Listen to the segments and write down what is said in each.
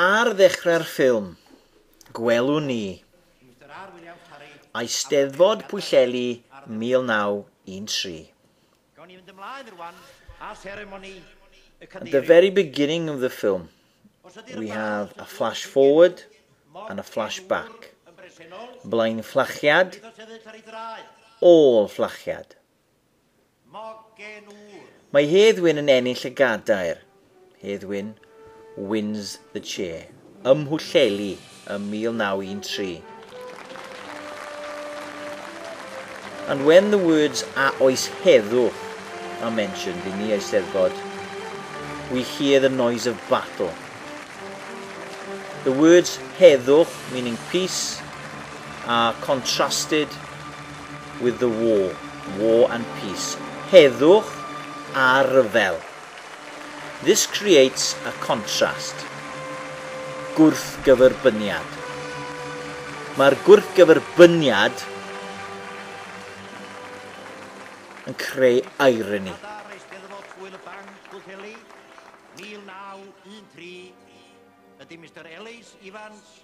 Ar ddechrau'r ffilm, gwelwn ni Eisteddfod Pwllheli 1913. Gawn ni fynd ymlaen rwan â seremoni y cadeirydd. At the very beginning of the film, we have a flash forward and a flash back. Blaen fflachiad, ôl fflachiad. Mae Hedd Wyn yn ennill y gadair, Hedd Wyn wins the chair, ym Mhwllheli ym 1913. And when the words 'a oes heddwch' are mentioned in the Eisteddfod, we hear the noise of battle. The words 'heddwch', meaning peace, are contrasted with the war, war and peace, heddwch a rhyfel. This creates a contrast, gwrthgyferbyniad. Mae'r gwrthgyferbyniad yn creu irony. Ydy Mr Ellis Evans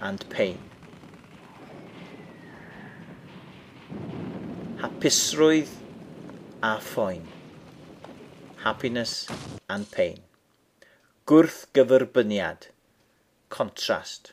and pain. Hapusrwydd a phoen. Happiness and pain. Gwrthgyferbyniad. Contrast.